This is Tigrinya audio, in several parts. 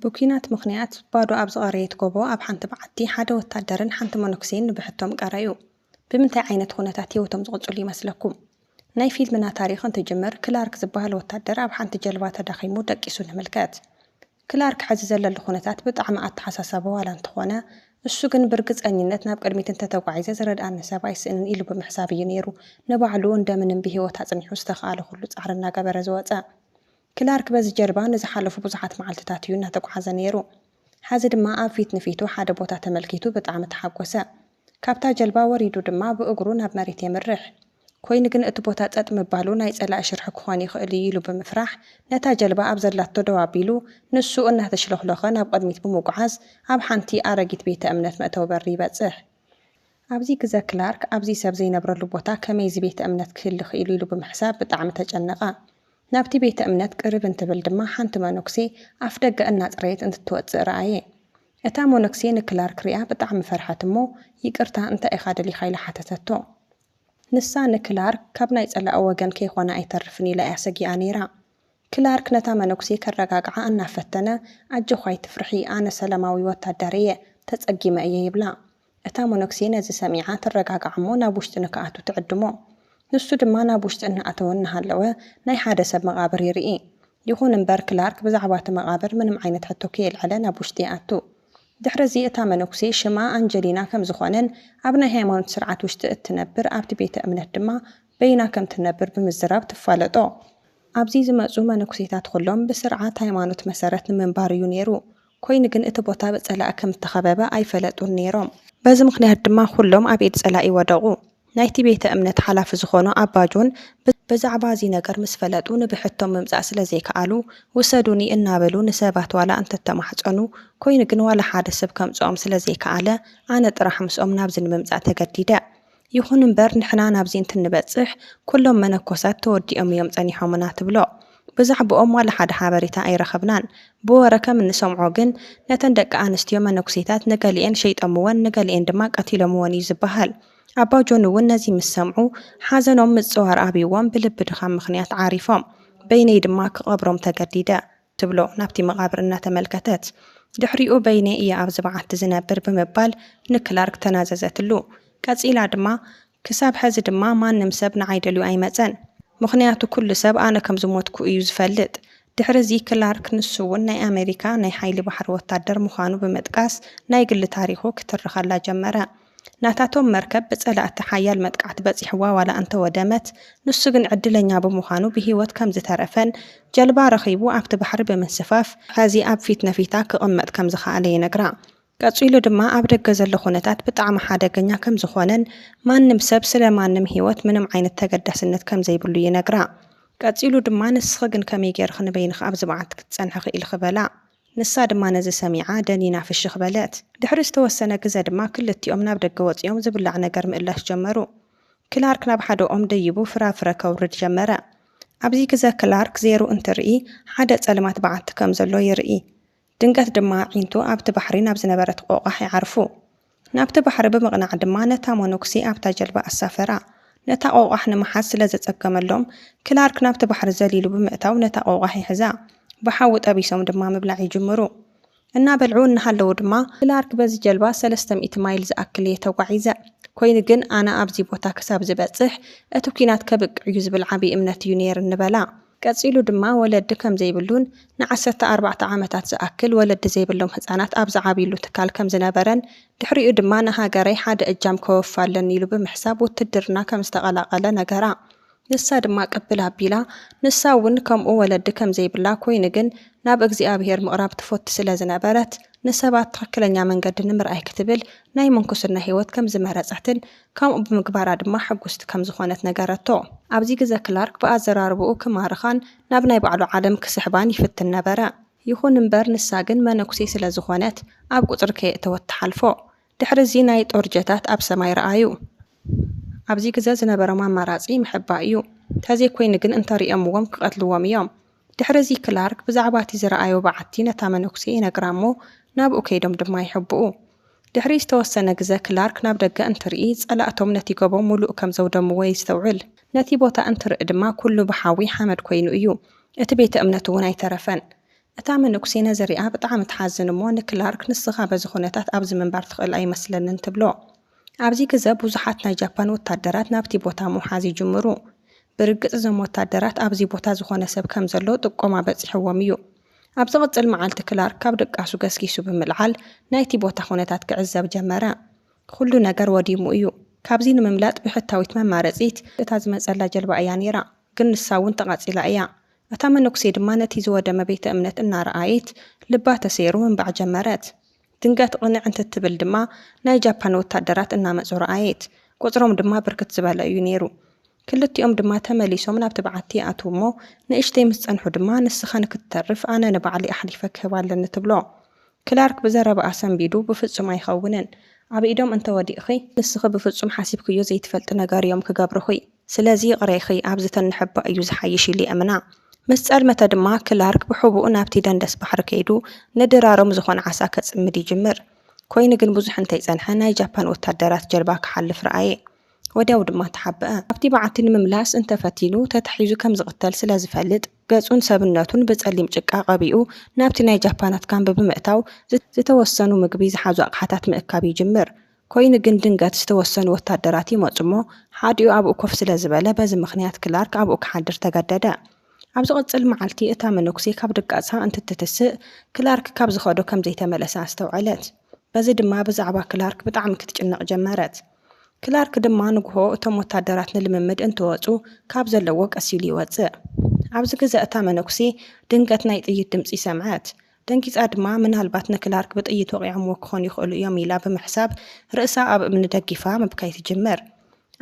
ብኲናት ምኽንያት ባዶ ኣብ ዝቐረየት ጎቦ ኣብ ሓንቲ በዓቲ፣ ሓደ ወታደርን ሓንቲ መነኩሴን ንብሕቶም ቀረዩ። ብምንታይ ዓይነት ዅነታት ህይወቶም ዝቕጽሉ ይመስለኩም? ናይ ፊልምና ታሪኽ እንትጅምር፣ ክላርክ ዝበሃል ወታደር ኣብ ሓንቲ ጀልባ ተዳኺሙ ደቂሱ ንምልከት። ክላርክ ሕዚ ዘለሉ ኩነታት ብጣዕሚ ኣተሓሳሳቢ ዋላ እንተኾነ፣ እሱ ግን ብርግጸኝነት ናብ ቅድሚት እንተተጓዒዘ ዝረድኣኒ ሰብ ኣይስእንን ኢሉ ብምሕሳብ እዩ ነይሩ ንባዕሉ እንደምንም ብህይወት ኣጽኒሑ ዝተኽኣሎ ኩሉ ጻዕሪ እናገበረ ዝወጸ። ክላርክ በዚ ጀልባ ንዝሓለፉ ብዙሓት መዓልትታት እዩ እናተጉዓዘ ነይሩ። ሐዚ ድማ ኣብ ፊት ንፊቱ ሓደ ቦታ ተመልኪቱ ብጣዕሚ ተሓጎሰ። ካብታ ጀልባ ወሪዱ ድማ ብእግሩ ናብ መሬት የምርሕ። ኮይኑ ግን እቲ ቦታ ጸጥ ምባሉ ናይ ጸላኢ ሽርሒ ክኾን ይኽእል እዩ ኢሉ ብምፍራሕ ነታ ጀልባ ኣብ ዘላቶ ደው ኣቢሉ ንሱ እናተሽሎኽሎኸ ናብ ቕድሚት ብምጉዓዝ ኣብ ሓንቲ ኣረጊት ቤተ እምነት መእተዊ በሪ ይበጽሕ። ኣብዚ ግዘ ክላርክ ኣብዚ ሰብ ዘይነብረሉ ቦታ ከመይ እዚ ቤተ እምነት ክህሊ ኽኢሉ ኢሉ ብምሕሳብ ብጣዕሚ ተጨነቐ። ናብቲ ቤተ እምነት ቅርብ እንትብል ድማ ሓንቲ መኖክሴ ኣፍ ደገ እናጽረየት እንትትወጽእ ረኣየ። እታ ሞነግሴ ንክላርክ ሪኣ ብጣዕሚ ፈርሐት እሞ ይቅርታ እንታይ ኢኻ ደሊኻ ኢላ ሓተተቶ። ንሳ ንክላርክ ካብ ናይ ጸላኢ ወገን ከይኾነ ኣይተርፍን ኢላ እያ ሰጊኣ ነይራ። ክላርክ ነታ መነጉሴ ከረጋግዓ እናፈተነ ኣጆኺ ኣይትፍርሒ ኣነ ሰላማዊ ወታደር እየ ተጸጊመ እየ ይብላ። እታ መነኩሴ ነዚ ሰሚዓ ትረጋጋዕ እሞ ናብ ውሽጢ ንክኣቱ ትዕድሞ። ንሱ ድማ ናብ ውሽጢ እናኣተወ እናሃለወ ናይ ሓደ ሰብ መቓብር ይርኢ። ይኹን እምበር ክላርክ ብዛዕባ እቲ መቓብር ምንም ዓይነት ሕቶ ከየልዐለ ናብ ውሽጢ ይኣቱ። ድሕሪ እዚ እታ መነኩሴ ሽማ ኣንጀሊና ከም ዝኾነን ኣብ ናይ ሃይማኖት ስርዓት ውሽጢ እትነብር ኣብቲ ቤተ እምነት ድማ በይና ከም ትነብር ብምዝራብ ትፋለጦ። ኣብዚ ዝመጹ መነኩሴታት ኹሎም ብስርዓት ሃይማኖት መሰረት ንምንባር እዩ ነይሩ። ኰይኑ ግን እቲ ቦታ ብጸላኢ ከም እተኸበበ ኣይፈለጡን ነይሮም። በዚ ምኽንያት ድማ ዅሎም ኣብ ኢድ ጸላኢ ወደቑ። ናይቲ ቤተ እምነት ሓላፊ ዝዀኑ ኣባ ጆን ብዛዕባ እዚ ነገር ምስ ፈለጡ ንብሕቶም ምምጻእ ስለ ዘይከኣሉ፣ ውሰዱኒ እናበሉ ንሰባት ዋላ እንተ ተማሕጸኑ፣ ኰይኑ ግን ዋላ ሓደ ሰብ ከምጽኦም ስለ ዘይከኣለ፣ ኣነ ጥራሕ ምስኦም ናብዚ ንምምጻእ ተገዲደ። ይኹን እምበር ንሕና ናብዚ እንትንበጽሕ ኩሎም መነኮሳት ተወዲኦም እዮም ጸኒሖምና ትብሎ። ብዛዕብኦም ዋላ ሓደ ሓበሬታ ኣይረኸብናን። ብወረ ከም እንሰምዖ ግን ነተን ደቂ ኣንስትዮ መነኩሴታት ንገሊኤን ሸይጦምወን ንገሊኤን ድማ ቀቲሎምወን እዩ ዝበሃል። ኣባ ጆን እውን ነዚ ምስ ሰምዑ ሓዘኖም ምጽዋር ኣብዩዎም ብልቢ ድኻም ምኽንያት ዓሪፎም። በይነይ ድማ ክቐብሮም ተገዲደ። ትብሎ ናብቲ መቓብር እናተመልከተት። ድሕሪኡ በይነይ እየ ኣብዚ በዓቲ ዝነብር ብምባል ንክላርክ ተናዘዘትሉ። ቀጺላ ድማ ክሳብ ሐዚ ድማ ማንም ሰብ ንዓይ ደልዩ ኣይመጸን። ምኽንያቱ ኩሉ ሰብ ኣነ ከም ዝሞትኩ እዩ ዝፈልጥ። ድሕሪ እዚ ክላርክ ንሱ'ውን ናይ ኣመሪካ ናይ ሓይሊ ባሕሪ ወታደር ምዃኑ ብምጥቃስ ናይ ግሊ ታሪኹ ክትርኸላ ጀመረ። ናታቶም መርከብ ብጸላእቲ ሓያል መጥቃዕቲ በጺሕዋ ዋላ እንተወደመት፣ ንሱ ግን ዕድለኛ ብምዃኑ ብህይወት ከም ዝተረፈን ጀልባ ረኺቡ ኣብቲ ባሕሪ ብምንስፋፍ ሐዚ ኣብ ፊት ነፊታ ክቕመጥ ከም ዝኸኣለ ይነግራ። ቀጺሉ ድማ ኣብ ደገ ዘሎ ኩነታት ብጣዕሚ ሓደገኛ ከም ዝኾነን ማንም ሰብ ስለ ማንም ህይወት ምንም ዓይነት ተገዳስነት ከም ዘይብሉ ይነግራ። ቀጺሉ ድማ ንስኺ ግን ከመይ ገይርኺ ንበይንኺ ኣብዚ መዓልቲ ክትጸንሒ ክኢልኺ በላ። ንሳ ድማ ነዚ ሰሚዓ ደኒና ፍሽኽ በለት። ድሕሪ ዝተወሰነ ግዘ ድማ ክልቲኦም ናብ ደገ ወጺኦም ዝብላዕ ነገር ምእላሽ ጀመሩ። ክላርክ ናብ ሓደ ኦም ደይቡ ፍራፍረ ከውርድ ጀመረ። ኣብዚ ግዘ ክላርክ ዜሩ እንትርኢ ሓደ ጸልማት በዓቲ ከም ዘሎ ይርኢ። ድንገት ድማ ኣዒንቱ ኣብቲ ባሕሪ ናብ ዝነበረት ቆቛሕ ይዓርፉ። ናብቲ ባሕሪ ብምቕናዕ ድማ ነታ መነኩሴ ኣብታ ጀልባ ኣሳፈራ። ነታ ቆቛሕ ንምሓዝ ስለ ዘጸገመሎም፣ ክላርክ ናብቲ ባሕሪ ዘሊሉ ብምእታው ነታ ቆቛሕ ይሕዛ። ብሓዊ ጠቢሶም ድማ ምብላዕ ይጅምሩ። እናበልዑ እናሃለዉ ድማ። ክላርክ በዚ ጀልባ ሰለስተ ሚእቲ ማይል ዝኣክል እየ ተጓዒዘ። ኰይኑ ግን ኣነ ኣብዚ ቦታ ክሳብ ዝበጽሕ እቲ ኲናት ከብቅዕ'ዩ ዝብል ዓብዪ እምነት እዩ ነይርኒ በላ። ቀጺሉ ድማ ወለዲ ከም ዘይብሉን ንዓሰርተ ኣርባዕተ ዓመታት ዝኣክል ወለዲ ዘይብሎም ህጻናት ኣብ ዝዓብዩሉ ትካል ከም ዝነበረን ድሕሪኡ ድማ ንሃገረይ ሓደ እጃም ከወፊ ኣለኒ ኢሉ ብምሕሳብ ውትድርና ከም ዝተቐላቐለ ነገራ። ንሳ ድማ ቅብል ኣቢላ ንሳ እውን ከምኡ ወለዲ ከም ዘይብላ ኮይኑ ግን ናብ እግዚኣብሄር ምቕራብ ትፎቲ ስለ ዝነበረት ንሰባት ትኽክለኛ መንገዲ ንምርኣይ ክትብል ናይ ምንኩስና ህይወት ከም ዝመረጸትን ከምኡ ብምግባራ ድማ ሕጉስቲ ከም ዝዀነት ነገረቶ። ኣብዚ ግዘ ክላርክ ብኣዘራርባኡ ክማርኻን ናብ ናይ ባዕሉ ዓለም ክስሕባን ይፍትን ነበረ። ይኹን እምበር ንሳ ግን መነኩሴ ስለ ዝዀነት ኣብ ቍጽሪ ከየእተወት ትሓልፎ። ድሕሪ እዚ ናይ ጦር ጀታት ኣብ ሰማይ ረኣዩ። ኣብዚ ግዘ ዝነበሮም ኣማራጺ ምሕባእ እዩ። ተዘይኰይኑ ግን እንተሪኦምዎም ክቐትልዎም እዮም። ድሕርዚ ክላርክ ብዛዕባ እቲ ዝረኣዮ በዓቲ ነታ መነኩሴ ይነግራ እሞ ናብኡ ከይዶም ድማ ይሕብኡ። ድሕሪ ዝተወሰነ ግዘ ክላርክ ናብ ደገ እንትርኢ ፀላእቶም ነቲ ጎቦ ሙሉእ ከም ዘውደምዎ የስተውዕል። ነቲ ቦታ እንትርኢ ድማ ኩሉ ብሓዊ ሓመድ ኮይኑ እዩ። እቲ ቤተ እምነት እውን ኣይተረፈን። እታ መነኩሴ ነዚ ሪኣ ብጣዕሚ ትሓዝን እሞ ንክላርክ ንስኻ በዚ ኩነታት ኣብዚ ምንባር ትኽእል ኣይመስለንን ትብሎ። ኣብዚ ግዘ ብዙሓት ናይ ጃፓን ወታደራት ናብቲ ቦታ ምውሓዝ ይጅምሩ። ብርግፅ እዞም ወታደራት ኣብዚ ቦታ ዝኾነ ሰብ ከምዘሎ ጥቆማ በፂሑዎም እዩ። ኣብ ዝቕፅል መዓልቲ ክላርክ ካብ ድቃሱ ገስጊሱ ብምልዓል ናይቲ ቦታ ኹነታት ክዕዘብ ጀመረ። ኹሉ ነገር ወዲሙ እዩ። ካብዚ ንምምላጥ ብሕታዊት መማረፂት እታ ዝመፀላ ጀልባ እያ ነይራ። ግን ንሳ እውን ተቓፂላ እያ። እታ መነኩሴ ድማ ነቲ ዝወደመ ቤተ እምነት እናረኣየት ልባ ተሰይሩ ምንባዕ ጀመረት። ድንገት ቕንዕ እንትትብል ድማ ናይ ጃፓን ወታደራት እናመጹ ረኣየት። ቁጽሮም ድማ ብርክት ዝበለ እዩ ነይሩ። ክልቲኦም ድማ ተመሊሶም ናብቲ በዓቲ ይኣትዉ እሞ ንእሽተይ ምስ ጸንሑ ድማ ንስኻ ንክትተርፍ ኣነ ንባዕለይ ኣሕሊፈ ክህባ ኣለኒ ትብሎ። ክላርክ ብዘረባኣ ሰንቢዱ ብፍጹም ኣይኸውንን። ኣብ ኢዶም እንተወዲቕኺ ንስኺ ብፍጹም ሓሲብክዮ ዘይትፈልጢ ነገር እዮም ክገብሩኺ። ስለዚ ይቕሬኺ ኣብዚ ተንሕባ እዩ ዝሓይሽ ኢሉ የእምና። ምስ ጸልመተ ድማ ክላርክ ብሕቡእ ናብቲ ደንደስ ባሕሪ ከይዱ ንድራሮም ዝኾነ ዓሳ ከጽምድ ይጅምር። ኮይኑ ግን ብዙሕ እንተይጸንሐ ናይ ጃፓን ወታደራት ጀልባ ክሓልፍ ረኣየ። ወዲያው ድማ ተሓበኣ። ናብቲ በዓቲ ንምምላስ እንተፈቲኑ ተታሒዙ ከም ዝቕተል ስለ ዝፈልጥ ገጹን ሰብነቱን ብጸሊም ጭቃ ቀቢኡ ናብቲ ናይ ጃፓናት ካምቢ ብምእታው ዝተወሰኑ ምግቢ ዝሓዙ ኣቕሓታት ምእካብ ይጅምር። ኮይኑ ግን ድንገት ዝተወሰኑ ወታደራት ይመጹ እሞ ሓዲኡ ኣብኡ ኮፍ ስለ ዝበለ በዚ ምኽንያት ክላርክ ኣብኡ ክሓድር ተገደደ። ኣብ ዝቕጽል መዓልቲ እታ መነኩሴ ካብ ድቃሳ እንትትትስእ ክላርክ ካብ ዝኸዶ ከም ዘይተመለሰ ኣስተውዐለት። በዚ ድማ ብዛዕባ ክላርክ ብጣዕሚ ክትጭነቕ ጀመረት። ክላርክ ድማ ንጉሆ እቶም ወታደራት ንልምምድ እንትወጹ ካብ ዘለዎ ቀስ ኢሉ ይወጽእ። ኣብዚ ግዘ እታ መነኩሴ ድንገት ናይ ጥይት ድምጺ ሰምዐት። ደንጊጻ ድማ ምናልባት ንክላርክ ብጥይት ወቒዖምዎ ክኾኑ ይኽእሉ እዮም ኢላ ብምሕሳብ ርእሳ ኣብ እምኒ ደጊፋ ምብካይ ትጅምር።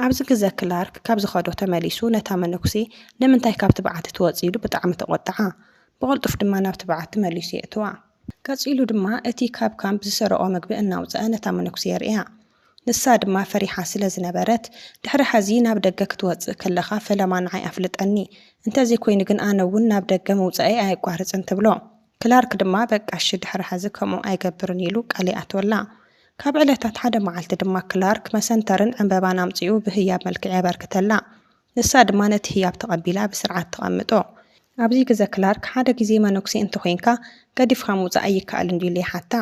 ኣብዚ ግዘ ክላርክ ካብ ዝኸዶ ተመሊሱ ነታ መነኩሴ ንምንታይ ካብቲ በዓቲ ትወጺ ኢሉ ብጣዕሚ ተቖጥዓ። ብቕልጡፍ ድማ ናብቲ በዓቲ መሊሱ የእትዋ። ቀጺሉ ድማ እቲ ካብ ካምፕ ዝሰረቖ ምግቢ እናውጸኣ ነታ መነኩሴ የርእያ። ንሳ ድማ ፈሪሓ ስለ ዝነበረት፣ ድሕሪ ሐዚ ናብ ደገ ክትወጽእ ከለኻ ፈለማ ንዓይ ኣፍልጠኒ፣ እንተዘይኮይኑ ግን ኣነ'ውን ናብ ደገ ምውጻኤይ ኣየቋርጽን ትብሎ። ክላርክ ድማ በቃ እሺ ድሕሪ ሐዚ ከምኡ ኣይገብርን ኢሉ ቃል ይኣትወላ። ካብ ዕለታት ሓደ መዓልቲ ድማ ክላርክ መሰንተርን ዕንበባን ኣምጺኡ ብህያብ መልክዕ የበርክተላ። ንሳ ድማ ነቲ ህያብ ተቐቢላ ብስርዓት ተቐምጦ። ኣብዚ ግዘ ክላርክ ሓደ ግዜ መነኩሴ እንተኾይንካ ገዲፍካ ምውጻእ ኣይከኣልን ድዩ ኢሉ ይሓታ።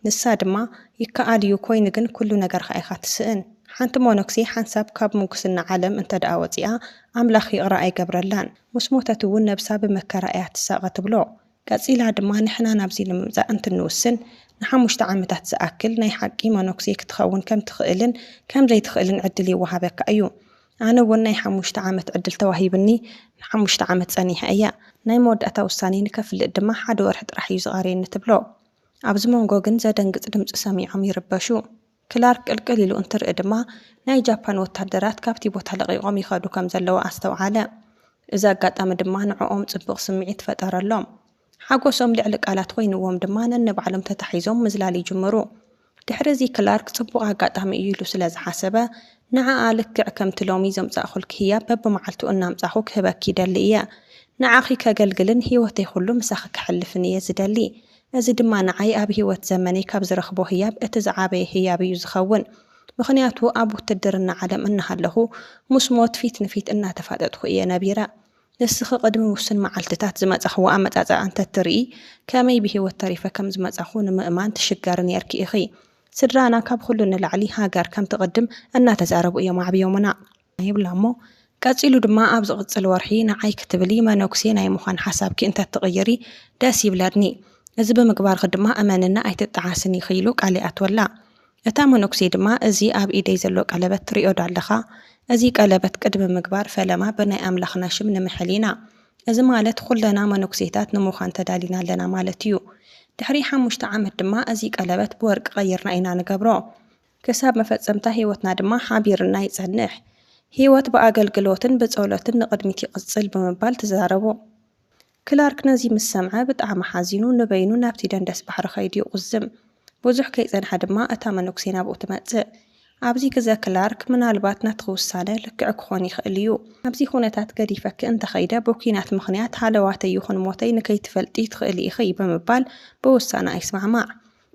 ንሳ ድማ ይከኣል እዩ ኮይኑ ግን ኩሉ ነገርካ ኢካ ትስእን ሓንቲ ሞኖክሴ ሓንሳብ ካብ ሙጉስና ዓለም እንተድኣ ወጺኣ ኣምላክ ይቅረ ኣይገብረላን ሙስ ሞተት እውን ነብሳ ብመከራ እያ ትሳቀ ትብሎ ቀጺላ ድማ ንሕና ናብዚ ንምምጻእ እንትንውስን ንሓሙሽተ ዓመታት ዝኣክል ናይ ሓቂ ሞኖክሴ ክትከውን ከም ትክእልን ከም ዘይትክእልን ዕድል ይወሃበካ እዩ ኣነ እውን ናይ ሓሙሽተ ዓመት ዕድል ተዋሂብኒ ንሓሙሽተ ዓመት ጸኒሐ እየ ናይ መወዳእታ ውሳኔ ንከፍልጥ ድማ ሓደ ወርሒ ጥራሕ እዩ ዝቀርየኒ ትብሎ ኣብዚ መንጎ ግን ዘደንግጽ ድምጺ ሰሚዖም ይርበሹ። ክላርክ ቅልቅል ኢሉ እንትርኢ ድማ ናይ ጃፓን ወታደራት ካብቲ ቦታ ለቒቖም ይኸዱ ከም ዘለዉ ኣስተውዓለ። እዚ ኣጋጣሚ ድማ ንዕኦም ጽቡቕ ስምዒት ፈጠረሎም። ሓጎሶም ልዕሊ ቃላት ኮይንዎም ድማ ነንባዕሎም ተታሒዞም ምዝላል ይጅምሩ። ድሕሪ'ዚ ክላርክ ጽቡቕ ኣጋጣሚ እዩ ኢሉ ስለ ዝሓሰበ፣ ንዓኣ ልክዕ ከምቲ ሎሚ ዘምጻእኩልኪ ህያብ በብመዓልቱ እናምጻእኹ ክህበኪ ይደሊ እየ። ንዓኺ ከገልግልን ህይወተይ ኹሉ ምሳኺ ከሕልፍን እየ ዝደሊ። እዚ ድማ ንዓይ ኣብ ህይወት ዘመነይ ካብ ዝረኽቦ ህያብ እቲ ዝዓበየ ህያብ እዩ ዝኸውን። ምኽንያቱ ኣብ ውትድርና ዓለም እናሃለኹ ምስ ሞት ፊት ንፊት እናተፋጠጥኩ እየ ነቢረ። ንስኺ ቅድሚ ውሱን መዓልትታት ዝመጻኽዎ ኣመጻጽኣ እንተ እትርኢ፣ ከመይ ብህይወት ተሪፈ ከም ዝመጻኹ ንምእማን ትሽገሪ ኔርኪ ኢኺ። ስድራና ካብ ኹሉ ንላዕሊ ሃገር ከም ትቕድም እናተዛረቡ እዮም ኣዕብዮምና። ይብላ እሞ ቀጺሉ ድማ ኣብ ዝቕጽል ወርሒ ንዓይ ክትብሊ መነኩሴ ናይ ምዃን ሓሳብኪ እንተ እትቕይሪ ደስ ይብለኒ። እዚ ብምግባርኺ ድማ እመንኒ ኣይትጠዓስን ኢኺ ኢሉ ቃል ይኣትወላ። እታ መነኩሴ ድማ እዚ ኣብ ኢደይ ዘሎ ቀለበት ትሪኦዶ ኣለኻ? እዚ ቀለበት ቅድሚ ምግባር ፈለማ ብናይ ኣምላኽና ሽም ንምሕል ኢና። እዚ ማለት ኹለና መነኩሴታት ንምዃን ተዳሊና ኣለና ማለት እዩ። ድሕሪ ሓሙሽተ ዓመት ድማ እዚ ቀለበት ብወርቂ ቀይርና ኢና ንገብሮ። ክሳብ መፈጸምታ ሕይወትና ድማ ሓቢርና ይጸንሕ። ሕይወት ብኣገልግሎትን ብጸሎትን ንቕድሚት ይቕጽል ብምባል ትዛረቡ። ክላርክ ነዚ ምስ ሰምዐ ብጣዕሚ ሓዚኑ ንበይኑ ናብቲ ደንደስ ባሕሪ ከይዱ ይቑዝም። ብዙሕ ከይጸንሐ ድማ እታ መነኩሴ ናብኡ ትመጽእ። ኣብዚ ግዘ ክላርክ ምናልባት ናትኺ ውሳነ ልክዕ ክኾን ይኽእል እዩ። ኣብዚ ኩነታት ገዲፈኪ እንተኸይደ ብኲናት ምኽንያት ሃለዋተይ ይኹን ሞተይ ንከይትፈልጢ ትኽእሊ ኢኺ ብምባል ብውሳነኣ ይስማዕማዕ።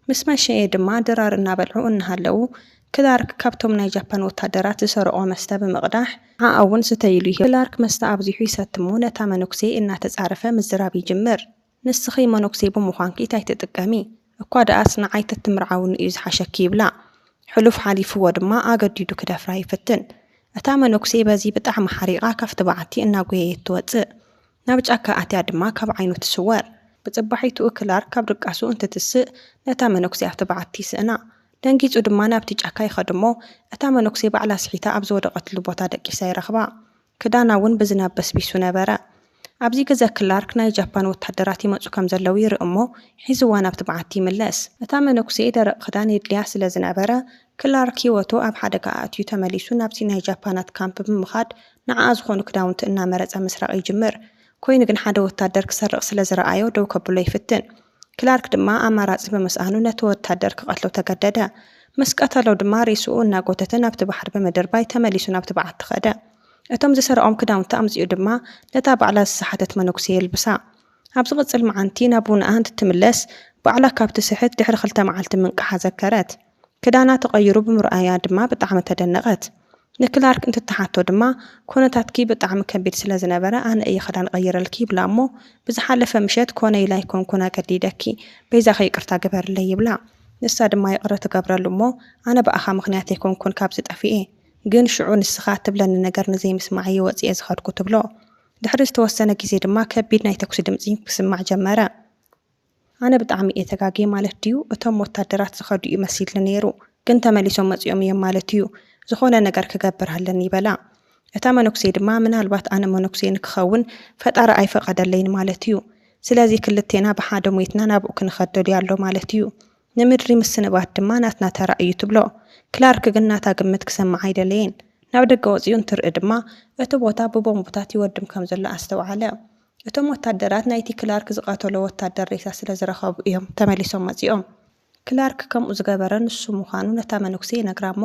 ምስ መሸየ ድማ ድራር እናበልዑ እናሃለዉ፣ ክላርክ ካብቶም ናይ ጃፓን ወታደራት ዝሰረቖ መስተ ብምቕዳሕ፣ ንዓኣ'ውን ስተይ ኢሉ ይህባ። ክላርክ መስተ ኣብዚሑ ይሰቲ'ሞ ነታ መነኩሴ እናተጻረፈ ምዝራብ ይጅምር፣ ንስኺ መነኩሴ ብምዃንኪ ታይ ትጥቀሚ? እኳ ደኣስ ንዓይ ተትምርዓውኒ'ዩ ዝሓሸኪ ይብላ። ሕሉፍ ሓሊፍዎ ድማ ኣገዲዱ ክደፍራ ይፍትን። እታ መነኩሴ በዚ ብጣዕሚ ሓሪቓ ካብቲ በዓቲ እናጎየየት ትወጽእ። ናብ ጫካ ኣትያ ድማ ካብ ዓይኑ ትስወር። ብጽባሒትኡ ክላርክ ካብ ድቃሱ እንትትስእ ነታ መነኩሴ ኣብቲ በዓቲ ይስእና። ደንጊጹ ድማ ናብቲ ጫካ ይኸድ'ሞ እታ መነኩሴ ባዕላ ስሒታ ኣብ ዝወደቐትሉ ቦታ ደቂሳ ይረኽባ። ክዳና'ውን ብዝናብ በስቢሱ ነበረ። ኣብዚ ግዘ ክላርክ ናይ ጃፓን ወተሃደራት ይመጹ ከም ዘለዉ ይርኢ'ሞ ሒዝዋ ናብቲ በዓቲ ይምለስ። እታ መነኩሴ ደረቕ ክዳን የድልያ ስለ ዝነበረ ክላርክ ህይወቱ ኣብ ሓደጋ ኣእትዩ ተመሊሱ ናብቲ ናይ ጃፓናት ካምፕ ብምኻድ ንዓኣ ዝኾኑ ክዳውንቲ እናመረጸ ምስራቕ ይጅምር። ኮይኑ ግን ሓደ ወታደር ክሰርቕ ስለ ዝረኣዮ ደው ከብሎ ይፍትን። ክላርክ ድማ ኣማራጺ ብምስኣኑ ነቲ ወታደር ክቐትሎ ተገደደ። ምስ ቀተሎ ድማ ሬስኡ እናጎተተ ናብቲ ባሕሪ ብምድርባይ ተመሊሱ ናብቲ በዓቲ ከደ። እቶም ዝሰረቖም ክዳውንቲ ኣምጺኡ ድማ ነታ ባዕላ ዝሰሓተት መነኩሴ የልብሳ። ኣብ ዝቕጽል መዓንቲ ናብ ውነኣ እንትትምለስ ባዕላ ካብ ትስሕት ድሕሪ ክልተ መዓልቲ ምንቃሓ ዘከረት። ክዳና ተቐይሩ ብምርኣያ ድማ ብጣዕሚ ተደነቐት። ንክላርክ እንትትሓቶ ድማ ኮነታትኪ ብጣዕሚ ከቢድ ስለ ዝነበረ ኣነ እየ ክዳን ቐይረልኪ ይብላ እሞ ብዝሓለፈ ምሸት ኮነ ኢለ ኣይኮንኩን ኣገዲደኪ በይዛኺ ይቅርታ ግበርለይ ይብላ ንሳ ድማ ይቕረ ትገብረሉ እሞ ኣነ ብኣኻ ምኽንያት ኣይኮንኩን ካብዚ ጠፊኤ ግን ሽዑ ንስኻ እትብለኒ ነገር ንዘይምስማዕ እየ ወፂኤ ዝኸድኩ ትብሎ። ድሕሪ ዝተወሰነ ግዜ ድማ ከቢድ ናይ ተኩሲ ድምፂ ክስማዕ ጀመረ። ኣነ ብጣዕሚ እየ ተጋግየ ማለት ድዩ እቶም ወታደራት ዝከዱ እዩ መሲልኒ ነይሩ ግን ተመሊሶም መፂኦም እዮም ማለት እዩ ዝኮነ ነገር ክገብር ኣለኒ በላ እታ መነኩሴ ድማ ምናልባት ኣነ መነኩሴ ንክከውን ፈጣሪ ኣይፈቀደለይን ማለት እዩ ስለዚ ክልቴና ብሓደ ሞይትና ናብኡ ክንከድ ደልዩ ኣሎ ማለት እዩ ንምድሪ ምስንባት ድማ ናትና ተራ እዩ ትብሎ ክላርክ ግን ናታ ግምት ክሰምዕ ኣይደለየን ናብ ደገ ወፂኡ እንትርኢ ድማ እቲ ቦታ ብቦምብታት ይወድም ከም ዘሎ ኣስተውዓለ እቶም ወታደራት ናይቲ ክላርክ ዝቐተሎ ወታደር ሬሳ ስለ ዝረኸቡ እዮም ተመሊሶም መጺኦም። ክላርክ ከምኡ ዝገበረ ንሱ ምዃኑ ነታ መነኩሴ ይነግራ እሞ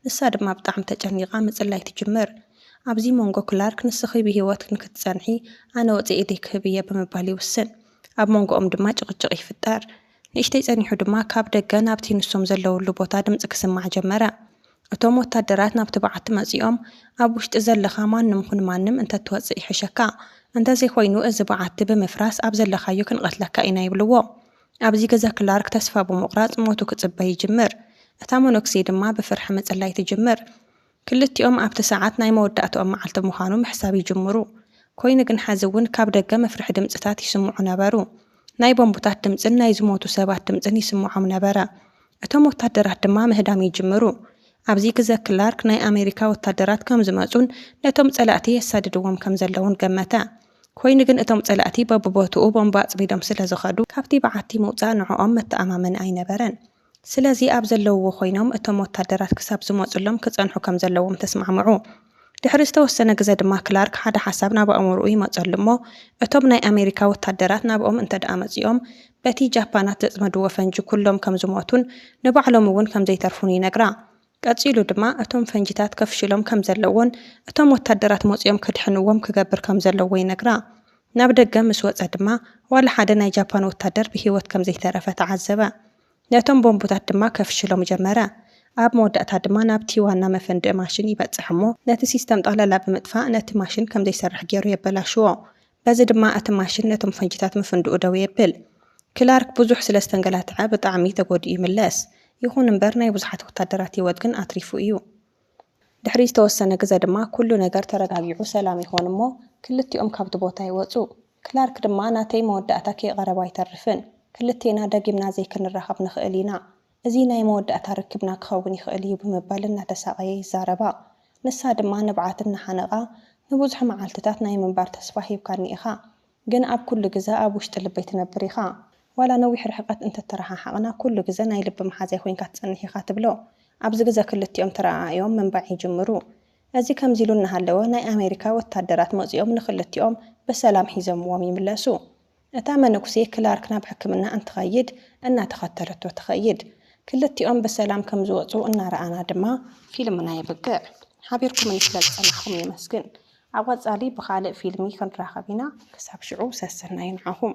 ንሳ ድማ ብጣዕሚ ተጨኒቓ ምጽላይ ትጅምር። ኣብዚ ሞንጎ ክላርክ ንስኺ ብህይወት ንክትጸንሒ ኣነ ወጺኤ ደይ ክህብ እየ ብምባል ይውስን። ኣብ ሞንጎኦም ድማ ጭቕጭቕ ይፍጠር። ንእሽተይ ጸኒሑ ድማ ካብ ደገ ናብቲ ንሶም ዘለውሉ ቦታ ድምጺ ክስማዕ ጀመረ። እቶም ወታደራት ናብቲ በዓቲ መጺኦም፣ ኣብ ውሽጢ ዘለኻ ማንም ኹን ማንም እንተትወጽእ ይሕሸካ፣ እንተዘይኾይኑ እዚ በዓቲ ብምፍራስ ኣብ ዘለኻዮ ክንቐትለካ ኢና ይብልዎ። ኣብዚ ግዘ ክላርክ ተስፋ ብምቑራጽ ሞቱ ክጽበ ይጅምር። እታ መኖክሴ ድማ ብፍርሒ ምጽላይ ትጅምር። ክልቲኦም ኣብቲ ሰዓት ናይ መወዳእትኦም መዓልቲ ምዃኑ ምሕሳብ ይጅምሩ። ኰይኑ ግን ሐዚ እውን ካብ ደገ መፍርሒ ድምጽታት ይስምዑ ነበሩ። ናይ ቦምብታት ድምጽን ናይ ዝሞቱ ሰባት ድምጽን ይስምዖም ነበረ። እቶም ወታደራት ድማ ምህዳም ይጅምሩ። ኣብዚ ግዘ ክላርክ ናይ ኣሜሪካ ወታደራት ከም ዝመጹን ነቶም ጸላእቲ የሳድድዎም ከም ዘለዉን ገመተ። ኰይኑ ግን እቶም ጸላእቲ በብቦትኡ ቦምብ ኣጽሚዶም ስለ ዝኸዱ፣ ካብቲ በዓቲ ምውጻእ ንዕኦም መተኣማመኒ ኣይነበረን። ስለዚ ኣብ ዘለዉዎ ኮይኖም እቶም ወታደራት ክሳብ ዝመጹሎም ክጸንሑ ከም ዘለዎም ተስማዕምዑ። ድሕሪ ዝተወሰነ ግዘ ድማ ክላርክ ሓደ ሓሳብ ናብ ኣእምርኡ ይመጸሉ እሞ እቶም ናይ ኣሜሪካ ወታደራት ናብኦም እንተድኣ መጺኦም በቲ ጃፓናት ዘጽመድዎ ፈንጂ ኩሎም ከም ዝሞቱን ንባዕሎም'ውን ከም ዘይተርፉን ይነግራ። ቀጺሉ ድማ እቶም ፈንጂታት ከፍሽሎም ከም ዘለዎን እቶም ወታደራት መጺኦም ከድሕንዎም ክገብር ከም ዘለዎ ይነግራ። ናብ ደገ ምስ ወጸ ድማ ዋላ ሓደ ናይ ጃፓን ወታደር ብህይወት ከም ዘይተረፈ ተዓዘበ። ነቶም ቦምቡታት ድማ ከፍሽሎም ጀመረ። ኣብ መወዳእታ ድማ ናብቲ ዋና መፈንድኢ ማሽን ይበጽሕ እሞ ነቲ ሲስተም ጠቕላላ ብምጥፋእ ነቲ ማሽን ከም ዘይሰርሕ ገይሩ የበላሽዎ። በዚ ድማ እቲ ማሽን ነቶም ፈንጂታት ምፍንድኡ ደው የብል። ክላርክ ብዙሕ ስለ ዝተንገላትዐ ብጣዕሚ ተጎዲኡ ይምለስ። ይኹን እምበር ናይ ብዙሓት ወታደራት ህይወት ግን ኣትሪፉ እዩ። ድሕሪ ዝተወሰነ ግዘ ድማ ኩሉ ነገር ተረጋጊዑ ሰላም ይኾን እሞ ክልቲኦም ካብቲ ቦታ ይወፁ። ክላርክ ድማ ናተይ መወዳእታ ከይቐረበ ኣይተርፍን። ክልቴና ደጊምና ዘይክንራኸብ ንኽእል ኢና። እዚ ናይ መወዳእታ ርክብና ክኸውን ይኽእል እዩ ብምባል እናተሳቐየ ይዛረባ። ንሳ ድማ ንብዓት እናሓነቓ፣ ንብዙሕ መዓልትታት ናይ ምንባር ተስፋ ሂብካኒ ኢኻ፣ ግን ኣብ ኩሉ ግዘ ኣብ ውሽጢ ልበይ ትነብር ኢኻ። ዋላ ነዊሕ ርሕቐት እንተተረሓሓቕና ኩሉ ግዘ ናይ ልቢ መሓዛይ ኮይንካ ትፀንሕ ኢኻ ትብሎ። ኣብዚ ግዘ ክልቲኦም ተረኣኣዮም ምንባዕ ይጅምሩ። እዚ ከምዚ ኢሉ እናሃለወ ናይ ኣሜሪካ ወታደራት መፂኦም ንክልቲኦም ብሰላም ሒዘምዎም ይምለሱ። እታ መነኩሴ ክላርክ ናብ ሕክምና እንትኸይድ እናተኸተለቶ ትኸይድ። ክልቲኦም ብሰላም ከም ዝወጹ እናረኣና ድማ ፊልምና የብቅዕ። ሓቢርኩምኒ ስለ ዝጸናሕኩም የመስግን። ኣብ ቐጻሊ ብኻልእ ፊልሚ ክንራኸብ ኢና ክሳብ ሽዑ ሰሰናዩ ንዓኹም።